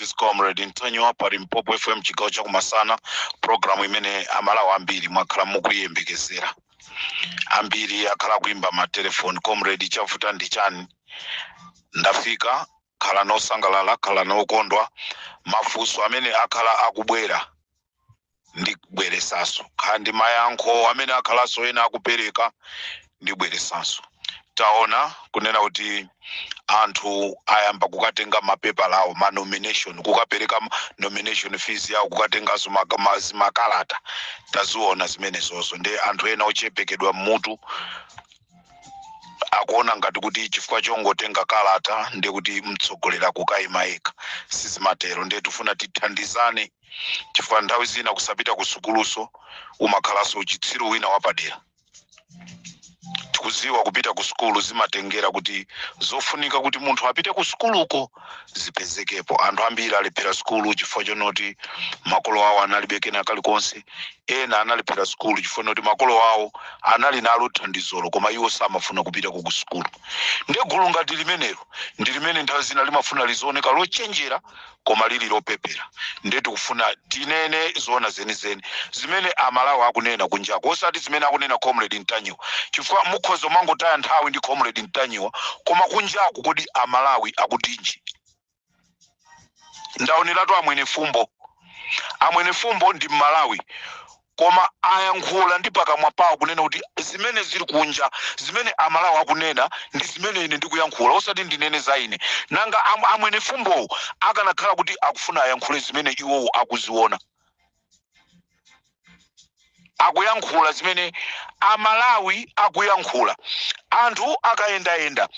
is comrade mtanyiwa pa limpopo fm chigawo chakumasana programu imene amalawi ambiri mwakhala mukuyiyembekezera ambiri akhala kuimba matelefoni comrade chavuta ndi chani ndafika khala nosangalala khala nokondwa mafunso amene akhala akubwera ndibweresanso khala ndi mayankho amene akhalanso ena akupereka ndibweresanso taona kunena kuti anthu ayamba kukatenga mapepala awo ma nomination kukapereka ma- nomination fees yawo kukatenganso maka- ma- zimakalata taziona zimenezozo nde anthu ena ochepekedwa mmutu akuona ngati kuti chifukwa chongotenga kalata nde kuti mtsogoleri akukayima yekha sizimatero ndiye tifuna tithandizane chifukwa nthawi zina kusapita ku sukuluso umakhalanso uchitsiru wina wapadera tikuziwa kupita ku sukulu zimatengera kuti zofunika kuti munthu apite ku sukuluko zipezekepo anthu ambiri alephera sukulu chifukwa chonoti makolo awo analibe kena kalikonse ena analephera sukulu chifukwa chonoti makolo awo anali nalo thandizolo koma iwo samafuna kupita ku sukulu nde gulu ngati limenelo ndi limene nthawi zina limafuna lizioneka lochenjera koma lili lopepera ndiye tikufuna tinene zoona zenizeni zimene amalawi akunena kunjako osati zimene akunena comrade mtanyiwa chifukwa mukhoza kumangotaya nthawi ndi comrade mtanyiwa koma kunjako kodi amalawi akutinji ndaoneratu amwene fumbo amwene fumbo ndi mmalawi koma ayankhula ndi pakamwa pawo kunena kuti zimene zili kunja zimene amalawi akunena ndi zimene ine ndikuyankhula osati ndinene za ine nanga amwene fumbowo akanakhala kuti akufuna ayankhule zimene iwowo akuziona akuyankhula zimene amalawi akuyankhula anthu akayendayenda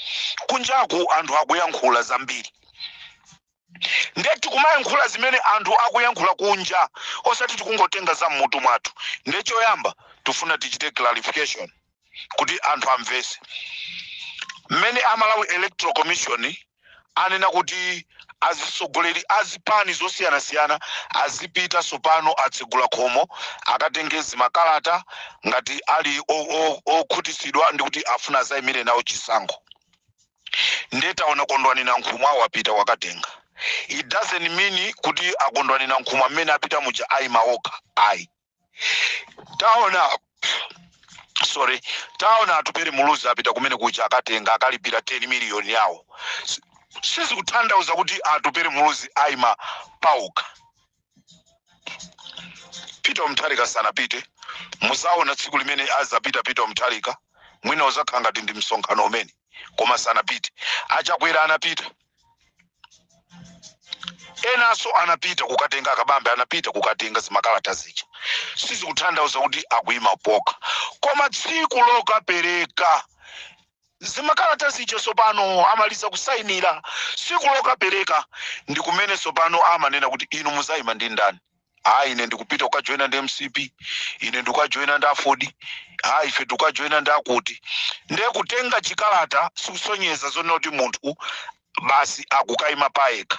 kunjaku anthu akuyankhula zambiri ndiye tikumayankhula zimene anthu akuyankhula kunja osati tikungotenga za mmutu mwathu ndiye choyamba tifuna tichite clarification kuti anthu amvese mmene amalawi electoral commission anena kuti azitsogoleri azipani zosiyanasiyana azipita tsopano atsegula khomo akatenge zimakalata ngati ali o- o- okhutitsidwa ndikuti afuna azayimire nawo chisankho nde taona kondwani nankhumwa wapita wakatenga it doesn't mean kuti akondwani nankhumwa mmene apita muja aima okha ayi taona sorry taona atupere muluzi apita kumene kuja akatenga akalipira 10 miliyoni yawo sizikutanthauza kuti atupere muluzi aima paokha peter mutharika sanapite muzaona tsiku limene azapita peter mutharika mwina uzakhala ngati ndi msonkhano umene koma sanapite achakwera anapita enanso anapita kukatenga akabambe anapita kukatenga zimakalata zija sizikutanthauza kuti akuyima paokha koma tsiku lokapereka zimakalata zija tsopano amaliza kusainira tsiku lokapereka ndi kumene tsopano amanena kuti inu muzaima ndi ndani ayi ine ndikupita kukajoyina ndi mcp ine ndikukajoyina ndi afodi ayi ife tikukajoyina ndi akuti ndiye kutenga chikalata sikusonyeza zonena kuti munthu basi akukaima payekha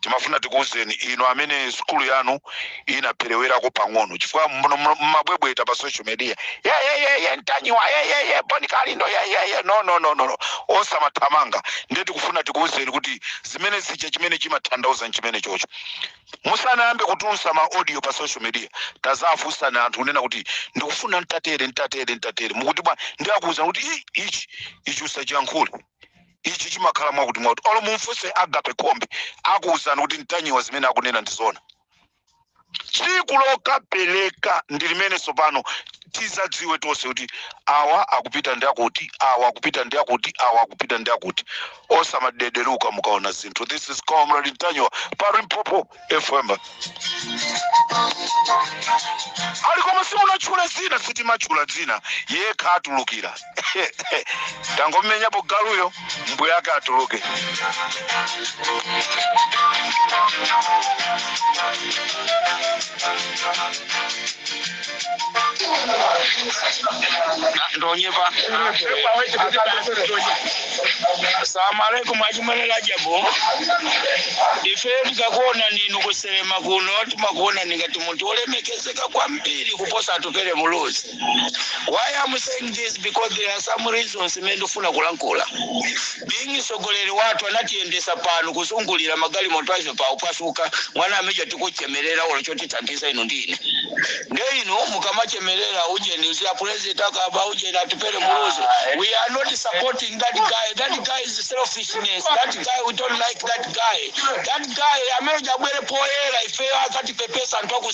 timafuna tikuwuzeni inu amene sukulu yanu inaperewerako pang'ono chifukwa muno- muno- mumabwebweta pa social media yeyeyeye ntanyiwa yeyeye boni kalindo yeyeye no no no no no. osamathamanga ndiye tikufuna tikuwuzeni kuti zimene zija chimene chimatanthauza nchimene chocho musanayambe kutulutsa ma audio pa social media tazafunsani anthu kunena kuti ndikufuna ntatere ntatere ntatere mukuti bwa nde akuwuzani kuti "Ih, ichi ichi usachiyankhule ichi chimakhala mwakuti mwakuti olo mumfunse agape khombe akuwuzani kuti ntanyiwa zimene akunena ndi zona tsiku lokapeleka ndi limene tsopano tizadziwe tonse kuti awa akupita ndi akuti awa akupita ndi akuti awa akupita ndi akuti osamadederuka mukaona zinthu this is comrade ntanyiwa pa limpopo fm ali po koma sindinatchule dzina sitimatchula dzina yekha atulukira tangomenyapo galuyo mbuye ake atuluke ndonyepa salamu alaikum achimwene rajabu ife tikakuona inu kusalima kuno timakuona ngati munthu olemekezeka kwambiri kuposa atupele muluzi why am saying this because there are some reasons imene ndifuna kulankhula Being mtsogoleri wathu anatiyendesa pano kuzungulira magalimoto a Ethiopa ophwasuka mwana major tikuchemelera olo chotithandiza inu ndi ine nde inu mukamachemelera ujeni uzi apulezidenti akaba ujeni atupele muluzi we are not supporting that guy that guy is selfishness that guy we don't like that guy that guy amene uja abwere poyera ifeyo akatipepesa anthu aku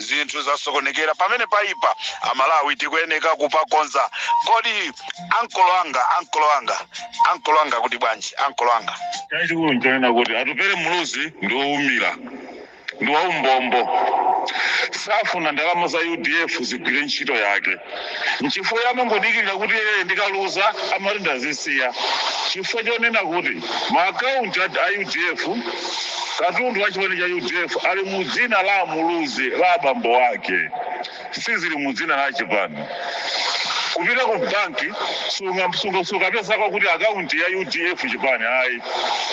zinthu zasokonekera pamene paipa amalawi tikuyeneka kupakonza kodi ankolo anga ankolo anga ankolo anga kuti bwanji ankolo anga chachikulu nchonena kuti atupere muluzi ndi woumira ndi waumbombo safuna ndalama za udf zigwire ntchito yake Nchifukwa yamangodikirira kuti ee ndikaluza amati ndazisiya chifukwa chonena kuti ma account a udf katundu wa chipani cha udf ali mu dzina la muluzi la bambo ake sizili mu dzina la chipani kupita ku banki sunga- sunga- sukapezako kuti akaunti ya udf chipani ayi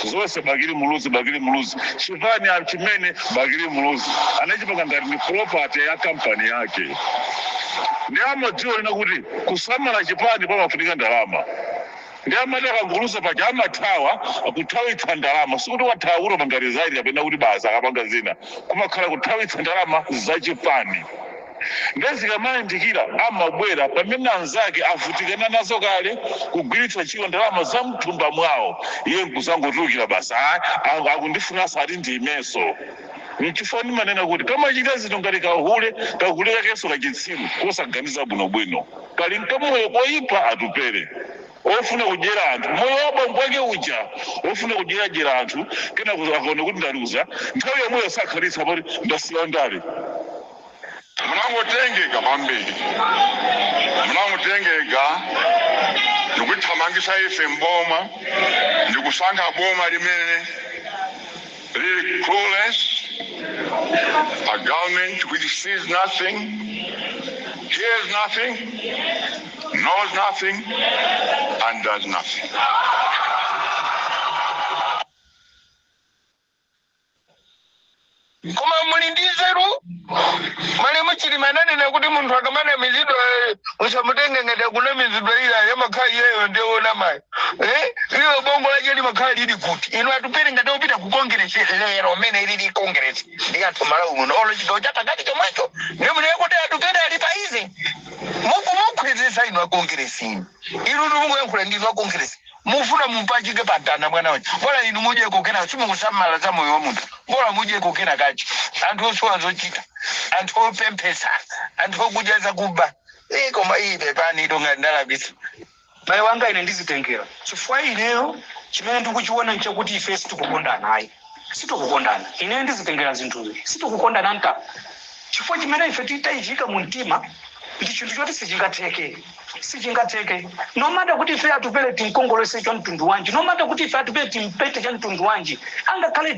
zonse bakili muluzi bakili muluzi chipani a- chimene bakili muluzi anachipanga ngati ni property ya kampani yake Ndiye amadziwa kunena kuti kusamala chipani pamafunika ndalama ndiye amati akangoluza paja amathawa kuthawitsa ndalama sikuti wathawa kuti wapanga resign kapena kuti basi akapanga zina kumakhala kuthawitsa ndalama za chipani ndiye zikamayandikira amabwera pamene anzake avutikana nazo kale kugwiritsa ntchito ndalama za mthumba mwawo iye nkuzangotulukira basi "Ah, ah, akundifunanso ati ndiimenso N'chifukwa ndimanena kuti kamachita zinthu ngati kahule, kahule kakenso kachitsiru, kosaganiza bwinobwino. Kali n'kamoyo koipa Atupele, wofuna kudyera anthu. Moyo wa bambo ake uja wofuna kudyeradyera anthu, kenako akaona kuti ndaluza, nthawi yomweyo sakhalitsa poti ndasiya ndale. Munangotengeka kwambiri, munangotengeka ndikutithamangisa ife m'boma ndikusankha boma limene lili clueless, a government which sees nothing, hears nothing, knows nothing and does nothing. koma muli ndi nzeru malemu chilima ananena kuti munthu akamanamizidwa eh, usamutenge ngati akunamizidwa iyayi amakhala iyeyo ndi wonamayo eh? ilo bongo lache limakhala lili kuti inu atupele ngati apita ku kongeresi lero mene ilili kongeresi ndi kuti malawi muno olo chigawo cha pakati chomwecho ndiye munene kuti atupele ali pa izi muku mukhwidzisa inu akongeresi inu inu ndikuyankhula ndi inu akongeresi Mufuna mumpachike pa mtanda mwana uja bola inu mudyeko kenako simukusamala za moyo wa munthu bola mudyeko kena kache anthu osowa zochita anthu opemphetsa anthu okudya zakuba ii koma ii pepanitu ngati ndalakwitsa M'bale wanga ine ndizitengera chifukwa ineyo chimene ndikuchiona nchakuti ifeyo sitikukondana ayi. sitikukondana. Ineyo ndizitengera zinthuzi. Sitikukondana nta chifukwa chimene ife titaichiika mu mtima ndi chinthu choti sichingatheke. Sichingatheke. No matter kuti ife atupele timkongolese cha mtundu wanji, no matter kuti ife atupele timpente cha mtundu wanji, angakhale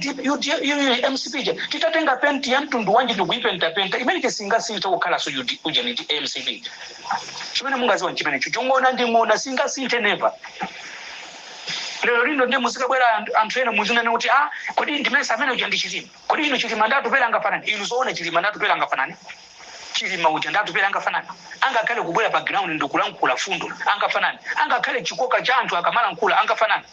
MCP ija titatenga penti ya mtundu wanji ndikuipentapenta imene chisingasinthe kukhalanso ujeni ndi MCP. Chimene mungaziwa nchimenecho. Ng'ona ndi ng'ona singasinthe never. lero lino ndiye muzikabwera anthu- anthu ena muzinene kuti a kodi ndimesa mmene uja ndi chilima kodi inu chilima ndi atupele angafanani inu zoona chilima ndi atupele angafanani chilima uja ndi atupele angafanani angakhale kubwera pa ground ndikulankhula mfundo angafanani angakhale chikoka cha anthu akamalankhula angafanani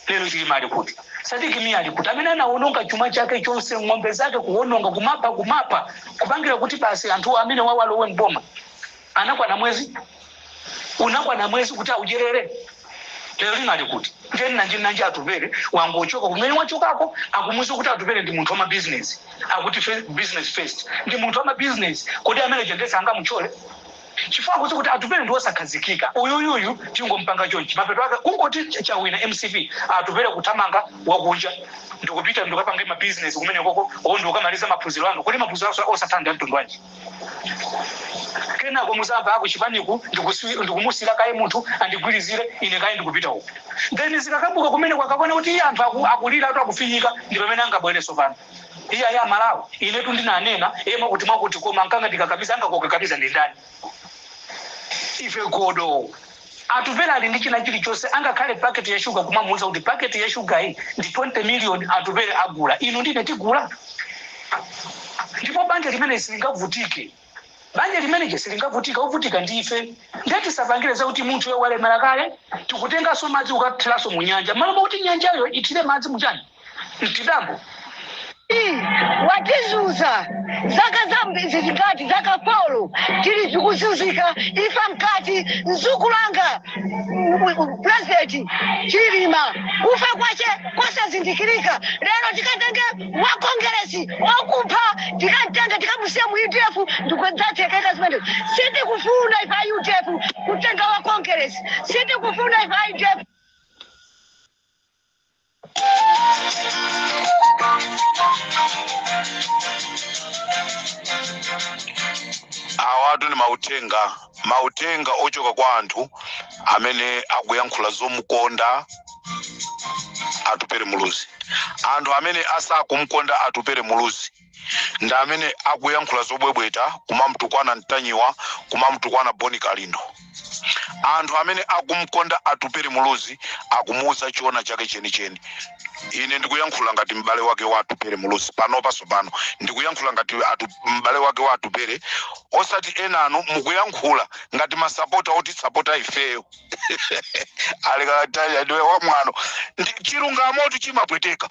lero chilima ali kuti sidiki miya ali kuti amene anawononga chuma chake chonse ng'ombe zake kuwononga kumapa kumapa kupangira kuti basi anthu amene awa alowe mboma Anakwana mwezi? Unakwana mwezi kuti audyerere? Lero lino ali kuti? Ndiye nanji nanji Atupele wangochoka kumene wachokako akumuuza kuti Atupele ndi munthu wa mabizinesi. Akuti fe- business first. Ndi munthu wa mabizinesi. Kodi amene jendesa angamuchole? Chifukwa kuti kuti Atupele ndi wosakhazikika. Uyuyuyu tingompanga chonchi. Mapeto ake kungoti ch- chawina MCP Atupele kuthamanga wakunja ndikupita ndikapanga mabizinesi kumene koko owo ndikamaliza maphunziro anga. Kodi maphunziro aso- osatha ndi amtundu wanji? kenako muzamva a kuchipaniku ndikusi- ndikumusira kaye munthu andigwirizire ine kaye ndikupita uku then zikakavuta kumene mukapaona kuti iye anthu aku- akuliratu akufinyika ndi pamene angabwereso pano iye ayi amalawi inetu ndinanena iye mwakuti mwakuti koma ankangondikakamiza angakukakamize ndi ndani ife godo Atupele ali ndi china chilichonse angakhale packet ya sugar kumamuuza kuti packet ya sugar yi ndi 20 million Atupele agula inu ndine tigula ndipo banja limeneli silingavutike banja limeneli silingavutike ovutika ndife ndiye tisapangire zakuti munthuyo walemera kale tikutenganso madzi kukathiranso mu nyanja malo mokuti nyanjayo ithire madzi muchani mchidambo watizuza zaka zambiri zingati zaka polo tili tikuzuzika imfa mkati mdzukulu wanga president chilima kufa kwache kosazindikirika lero tikatenge wa kongeresi okupha tikamtenge tikamusiya mu udf ndikudzatsekeka zimene sitikufuna ife a udf kutenga wa kongeresi sitikufuna ife a udf awatu ndi mauthenga mauthenga ochoka kwa anthu amene akuyankhula zomukonda atupere muluzi anthu amene sakumkonda atupere muluzi ndi amene akuyankhula zobwebweta kumamtukwana mtanyiwa kumamtukwana boni kalindo anthu amene akumkonda atupere muluzi akumuuza choona chake chenicheni ine ndikuyankhula ngati m'bale wake wa atupere muluzi panopa sopano ndikuyankhula ngati atu, m'bale wake wa atupere osati enanu mukuyankhula ngati masapota otisapota ifeyo walikatanya ndiwe wamwano Ndi- chilungamo tu chimapweteka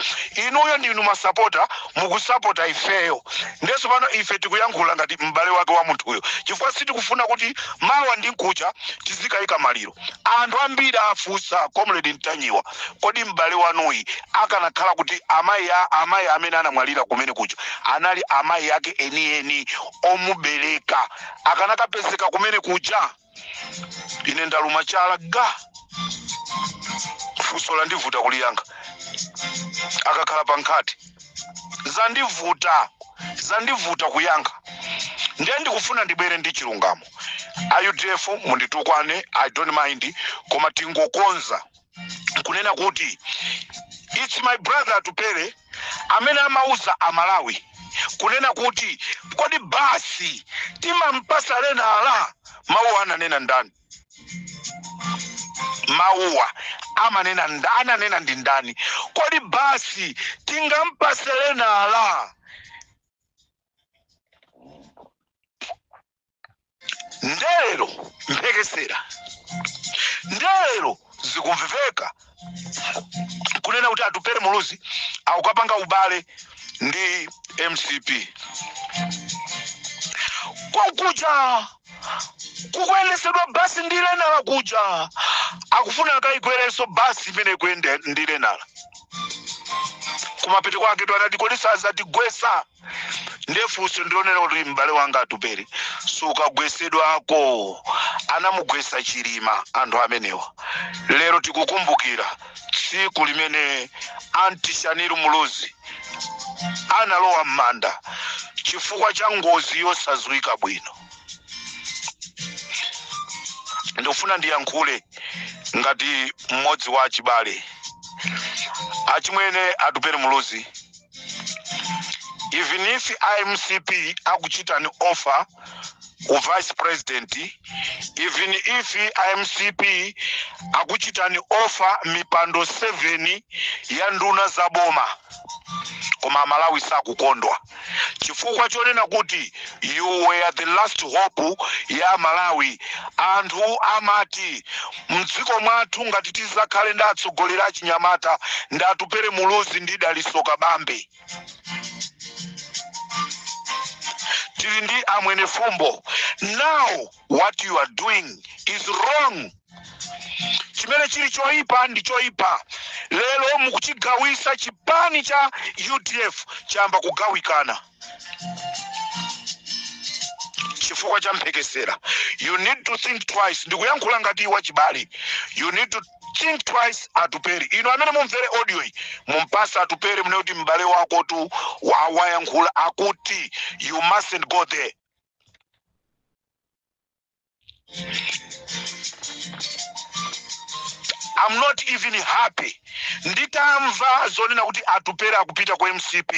inuyo ndinu masapota mukusapota ifeyo ndeso pano ife tikuyankhula ngati m'bale wake wa munthuyo chifukwa sitikufuna kuti mawa ndi nkucha tizikayika maliro anthu ambiri afunsa comrade ntanyiwa kodi m'bale wanuyi akanakhala kuti amayi a- amayi amene anamwalira kumene kuja anali amayi ake enieni omubereka akanakapezeka kumene kuja ine ndaluma chala funso landivuta kuliyankha akakhala pa nkhate zandivuta zandivuta kuyankha ndiye ndikufuna ndibwere ndi chilungamo a udf munditukwane i don't mind koma tingokonza kunena kuti it's my brother atupele amene amauza amalawi kunena kuti kodi basi timampasa lenala mawuwa ananena ndani mawuwa amanena nda- ananena ndi ndani kodi basi tingampase lenala ndelero mphekesera ndelero zikumveka kunena kuti atupere muluzi akukapanga ubale ndi mcp kwakuja kukuyendesedwa basi ndi lenala kuja akufuna akayikwerenso basi imene ikuyenda ndi lenala kumapeto kwake tunati kodi sazatigwesa ndefunso ndilonena kuti m'bale wanga atupere sukagwesedwako anamugwesa chilima anthu amenewa lero tikukumbukira tsiku limene anti shanil muluzi analowa m'manda chifukwa cha ngozi yosadziwika bwino ndikufuna ndiyankhule ngati mmodzi wa achibale achimwene atupere muluzi even if mcp akuchitani offer u vice president even if mcp akuchitani offer mipando 7 ya nduna za boma koma amalawi sakukondwa chifukwa chonena kuti you were the last hope ya malawi anthu amati Mdziko mwathu ngati tizakhale ndi atsogoleri achinyamata ndi Atupele Muluzi ndi Dalitso Kabambe. Tili ndi a Mwenefumbo. Now what you are doing is wrong. Chimene chili choipa ndi choipa. Lero mukuchigawisa chipani cha udf chayamba kugawikana. chifukwa cha mphekesera you need to think twice ndikuyankhula ngati wachibale you need to think twice atupere inu amene mumvere audio iyi mumpatse atupere munene kuti m'bale wakotu wa- wayankhula akuti you mustn't go there I'm not even happy nditamva zonena kuti atupele akupita ku mcp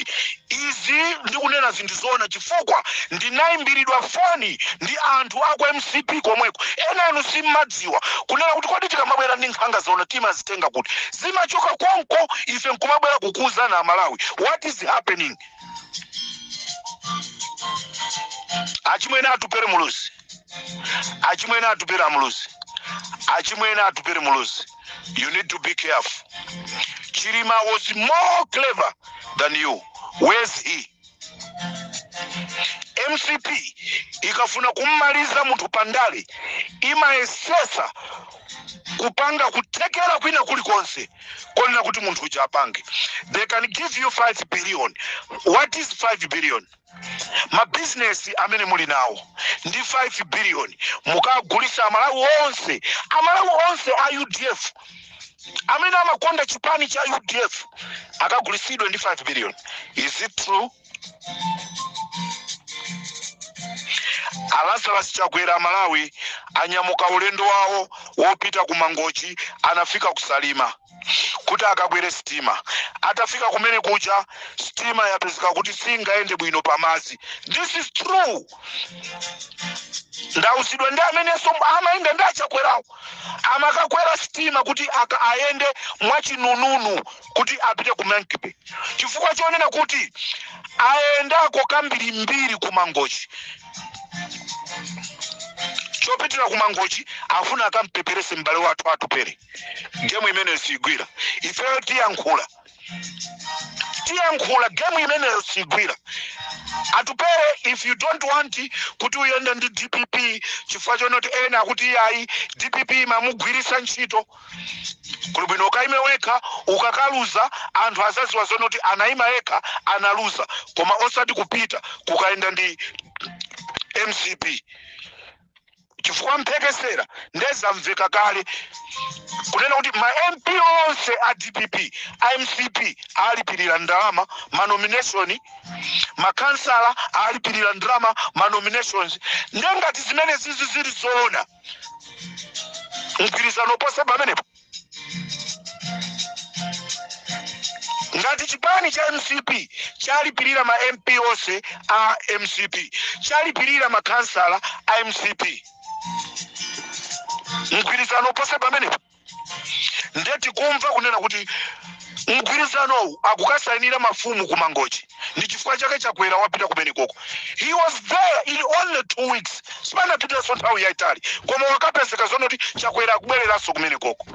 izi ndikunena zinthu zoona chifukwa ndinayimbiridwa foni ndi anthu aku mcp komweko ena anu simmadziwa kunena kuti kodi tikamabwera ndi nkhanga zaona timazitenga kuti zimachoka konko ife nkumabwera kukuwuzani amalawi what is happening achimwene atupere muluzi achimwene atupere muluzi achimwene atupere muluzi you need to be careful chilima was more clever than you where's he mcp ikafuna kummaliza munthu pandale imayesetsa kupanga kuthekera kwina kulikonse koonetsa kuti munthu uja apange they can give you 5 billion what is 5 billion mabizinesi amene muli nawo ndi 5 billion mukagulisa amalawi onse amalawi onse a udf amene amakonda chipani cha udf akagulisidwe ndi 5 billion is it true Alazarus Chakwera Malawi anyamuka ulendo wawo wopita ku Mangochi anafika ku Salima kuti akakwere sitima. Atafika kumene kuja sitima yapezeka kuti singayende bwino pamadzi. This is true. Ndauzidwa ndi amenenso amayenda ndi achakwerawo amakakwera sitima kuti a- ayende mwachinununu kuti apite ku Monkey Bay chifukwa chonena kuti ayendako kambirimbiri ku Mangochi. chopitira ku Mangochi afuna akampeperese m'bale wathu atupere gemu imene siyigwira ifeyo tiyankhula tiyankhula gemu imene siyigwira atupere if you don't want kuti uyende ndi dpp chifukwa chonoti ena akuti iyayi dpp imamugwiritsa ntchito kuli bwino ukaime wekha ukakaluza anthu azaziwa zonena kuti anaima yekha analuza koma osati kupita kukayenda ndi mcp chifukwa mphekesera nde zamveka kale kunena kuti ma mp onse a dpp a mcp alipirira ndalama manomination makansala alipirira ndalama manominations nde ngati zimenezizi zili zoona mgwirizano ponse pamenepo ngati chipani cha mcp chalipirira ma mp onse a mcp chalipirira makhansala a mcp mgwirizano ponse pamenepo ndiye tikumva kunena kuti mgwirizanowu akukasainira mafumu ku mangochi ndi chifukwa chake chakwera wapita kumenekoko he was there in only two weeks sipanapitenso nthawi yaitali koma wakapezeka zonena kuti chakwera akubwereranso kumenekoko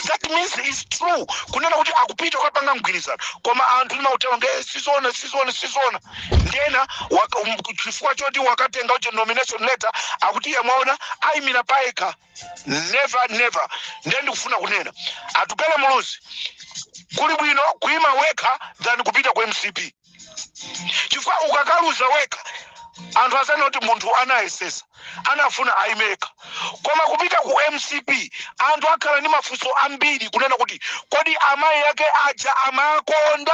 that means it's true kunena kuti akupita kukapanga mgwirizano koma anthu ndimautero nge sizona sizona sizona ndiyena waka- um, chifukwa choti wakatenga uche nomination letter akuti yemwaona ayimira payekha never never ndiye ndikufuna kunena atupele muluzi kuli bwino kuima wekha than kupita ku mcp chifukwa ukakaluza wekha anthu azanena kuti munthu anayesesa anafuna ayime yekha koma kupita ku mcp anthu akhala ndi mafunso ambiri kunena kuti kodi amayi ake aja amakonda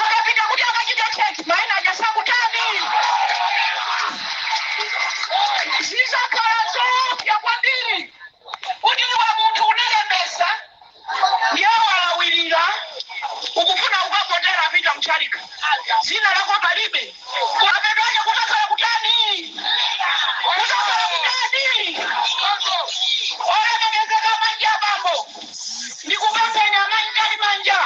akapita kuti akachite cheki maina aja sakutani zizakhala zoopsa kwambiri kuti iwe munthu unalembesa yawalawirira ukufuna ukavotere apita mchalika dzina lako palibe Kumapeto ake kudzakhala kutani? Kudzakhala kutani? Olemekezeka amayi ndi abambo, ndikupempheni mayi mtalimanja,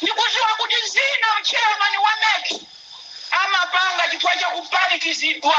ndikudziwa kuti zina mtchairman wa mec amapanga chifukwa cha kupanikizidwa.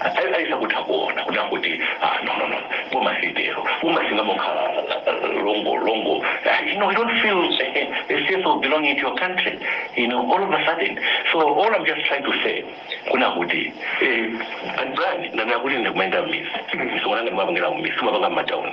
Ai- aisa kutha kuona kuda kuti ah, no no no boma silitero boma singamokhala uh, longo longo Ah, you know you don't feel a, a sense of belonging to your country you know all of a sudden so all i'm just trying to say kuna kuti eh, and brand nanakuti ndikumaenda mmisi sikunanga ndimapangera mmisi simapanga mmatauni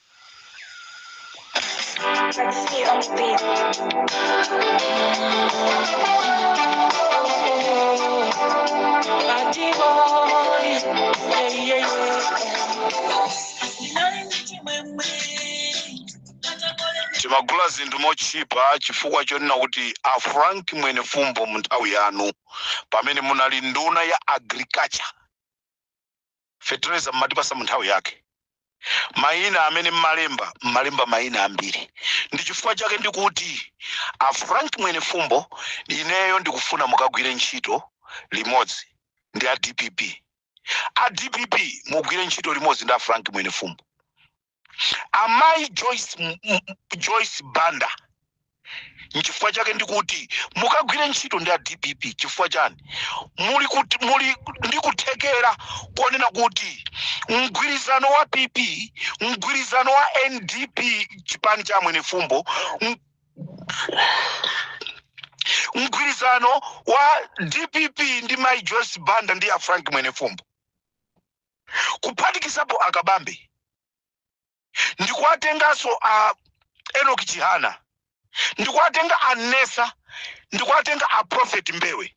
timagula zinthu motchipa chifukwa chonena kuti a frank mwenefumbo mu nthawi yanu pamene munali nduna ya agriculture fetereza mmatipasa mu nthawi yake mayina amene mmalemba mmalemba mayina ambiri ndi chifukwa chake ndikuti a frank mwenefumbo ineyo ndikufuna mukagwire ntchito limodzi ndi a dpp a dpp mugwire ntchito limodzi ndi a frank mwenefumbo amayi joyce, M- M- joyce banda nchifukwa chake ndikuti mukagwire ntchito ndi a dpp chifukwa chani muli kuti muli ndi kuthekera koonena kuti mgwirizano wa pp mgwirizano wa ndp chipani cha a mwenefumbo m- mgwirizano wa dpp ndi mai joyce banda ndi a frank mwenefumbo kuphatikizapo a Kabambe ndikuwatenganso a Enoch Chihana ndikuwatenga a Nesa ndikuwatenga a Prophet Mbewe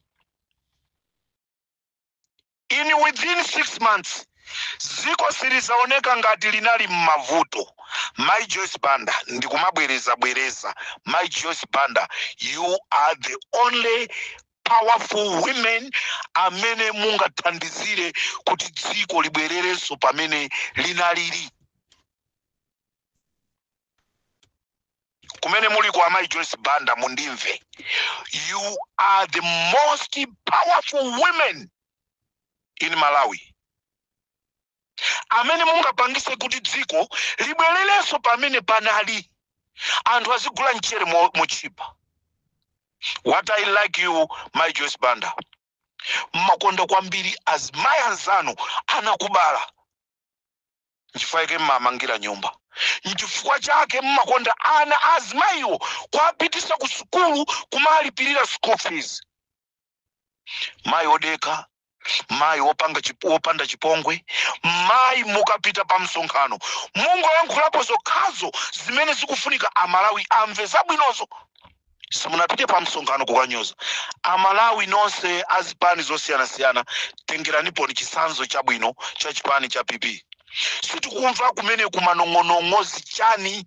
in within six months dziko silizaoneka ngati linali m'mavuto mai joyce banda ndikumabwereza bwereza mai joyce banda you are the only powerful women amene mungathandizire kuti dziko libwererenso pamene linalili kumene muliko amai joyce banda mundimve you are the most powerful women in malawi amene mungapangise kuti dziko libwererenso pamene panali anthu azigula mchere motchipa what i like you mai joyce banda mmakonda kwambiri azimayi anzanu anakubala nchifukwa chake mmamangira nyumba nchifukwa chake mmakonda ana azimayiwo kuapitisa ku sukulu kumalipirira school fees mayi odekha mayi wopanda chipongwe mayi mukapita pa msonkhano mungoyankhulapo zokhazo zimene zikufunika amalawi amve zabwinozo simunapite pa msonkhano kukanyoza amalawi nonse azipani zosiyanasiyana tengeraniponi chitsanzo chabwino cha chipani cha pp sitikumva kumene kumanong'onong'o zichani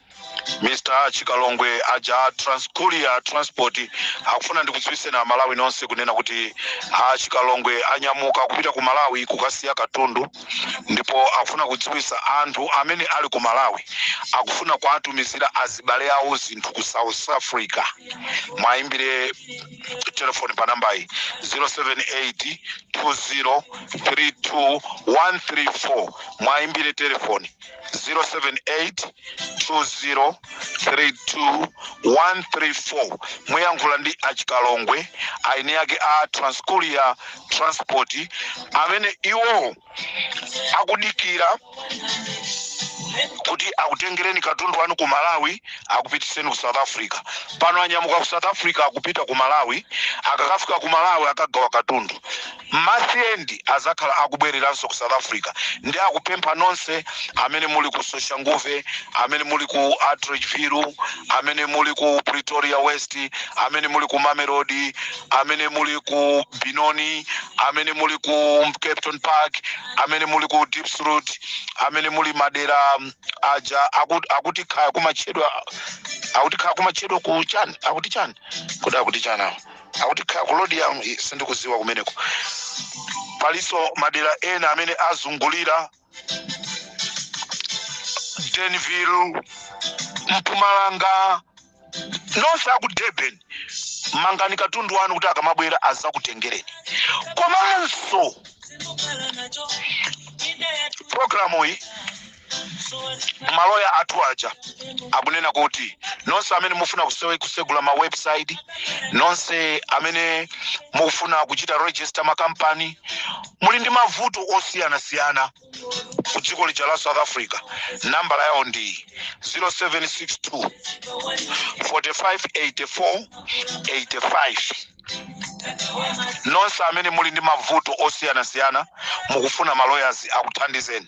Mr Chikalongwe aja a Transcourier Transport akufuna ndikudziwitseni a Malawi nonse kunena kuti a Chikalongwe anyamuka kupita ku Malawi kukasiya katundu ndipo akufuna kudziwitsa anthu amene ali ku Malawi akufuna kuwatumizira azibale awo zinthu ku South Africa mwayimbire telefoni pa nambayi 078 20 32 134 mwayimbire telefoni 0782032134 muyankhula ndi achikalongwe aeni ake a transcourier transport amene iwo akudikira kuti akutengereni katundu wanu ku malawi akupitiseni ku south africa pano anyamuka ku south africa akupita ku malawi akakafika ku malawi akagawa katundu Month end azakhala akubwereranso ku south africa nde akupempha nonse amene muli ku soshanguve amene muli ku atteridgeville amene muli ku pretoria west amene muli ku mamelodi amene muli ku benoni amene muli ku kempton park amene muli ku diepsloot amene muli madera aja akuti kaya kumatchedwa akuti kaya kumatchedwa ku chani akuti chani kodi akuti chani awa akuti khaya kulodi yanu i- sindikuziwa kumeneko palinso madera ena amene azungulira denville mpumalanga nonse aku durban mangani katundu wanu kuti akamabwera azakutengereni komanso programu iyi maloya athu aja akunena kuti nonse amene mufuna kusewe kusegula ma website nonse amene mufuna kuchita register makampani muli ndi mavuto osiyanasiyana ku dziko lija la south africa nambala yawo ndi 0762 4584 85 nonse amene muli ndi mavuto osiyanasiyana mukufuna ma lawyers akuthandizeni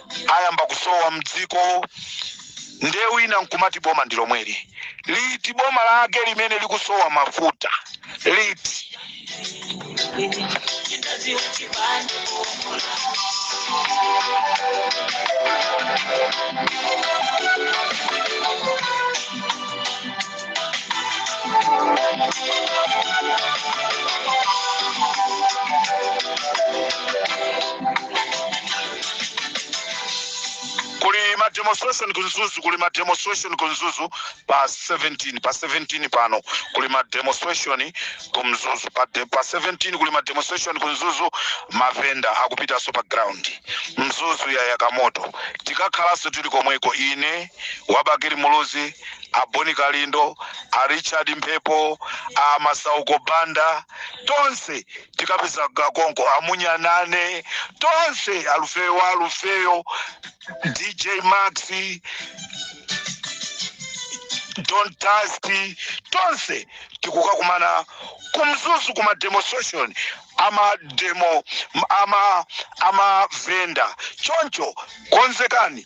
ayamba kusowa mdziko nde wina nkumati boma ndi lomweli liti boma lake limene likusowa mafuta liti kuli ma demonstration ku Mzuzu kuli ma demonstration ku Mzuzu pa 17 pa 17 pano kuli ma demonstration ku Mzuzu pa, de, pa 17 kuli ma demonstration ku Mzuzu mavenda akupitanso pa ground Mzuzu yayaka moto tikakhalanso tili komweko ine wa Bakili Muluzi a Bon Kalindo, a Richard Mphepo, a Masauko Banda, tonse tikapezeka konko a Munyanane tonse alufeyo wa alufeyo DJ Maxi Don Tasti tonse tikukakumana ku Mzuzu ku ma demonstration ama demo ama ama venda choncho konzekani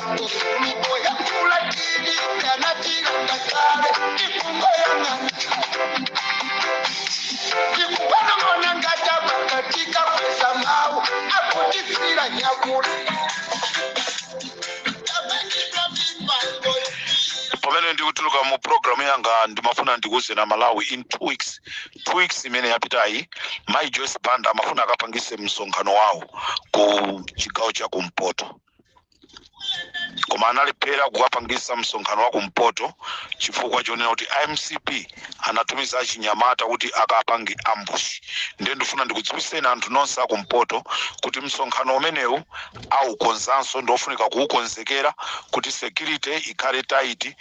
pamene ndikutuluka mu programu yanga ndimafuna ndikuuzeni amalawi in two weeks two weeks imene yapitayi mayi joyce banda amafuna akapangitse msonkhano wawo ku chigawo cha kumpoto koma analephera kukapangisa msonkhano wa kumpoto chifukwa chonena kuti a mcp anatumiza achinyamata kuti akapange ambushi ndiye ndifuna ndikudziwiseni anthu nonse akumpoto kuti msonkhano umenewu aukonzanso ndiofunika kuukonzekera kuti security ikhale tight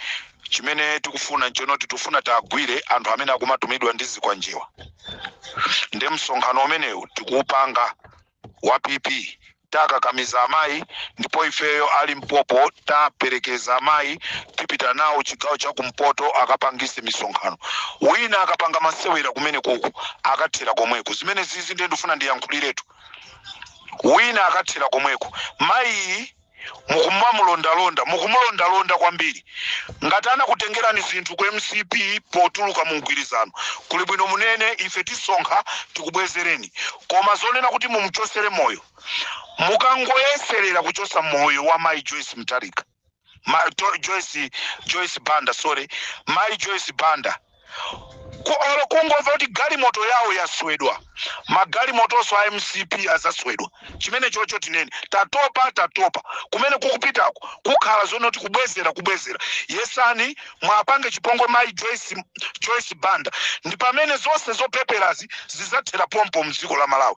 chimene tikufuna nchonoti tifuna tiagwire anthu amene akumatumidwa ndi zikwanjewa ndiye msonkhano umenewu tikuupanga wa pp tawakakamiza amayi ndipo ifeyo a limpopo tiwaperekeza amayi tipita nawo chigawo cha kumpoto akapangise misonkhano wina akapanga masewera kumeneko uko akathera komweko zimene zizi ndiye ndifuna ndiyankhuliretu wina akathera komweko mayiyi mukumamulondalonda mukumulondalonda kwambiri ngati anakutengerani zinthu ku mcp potuluka mu mgwirizano kuli bwino munene ife tisonkha tikubwezereni koma zonena kuti mumuchosere moyo mukangoyeserera kuchosa moyo wa mai joyce mtarika ma, to, joyce, joyce banda sorry mai joyce banda olo kungomva kuti galimoto yawo yaswedwa magalimotonso a mcp azaswedwa chimene chocho tinene tatopa tatopa kumene kukupitako kukhala zonoti kubwezera kubwezera yesani mwapange chipongwe mayi joyce, joyce banda ndi pamene zonse zopeperazi zizathera pompo mdziko la malawi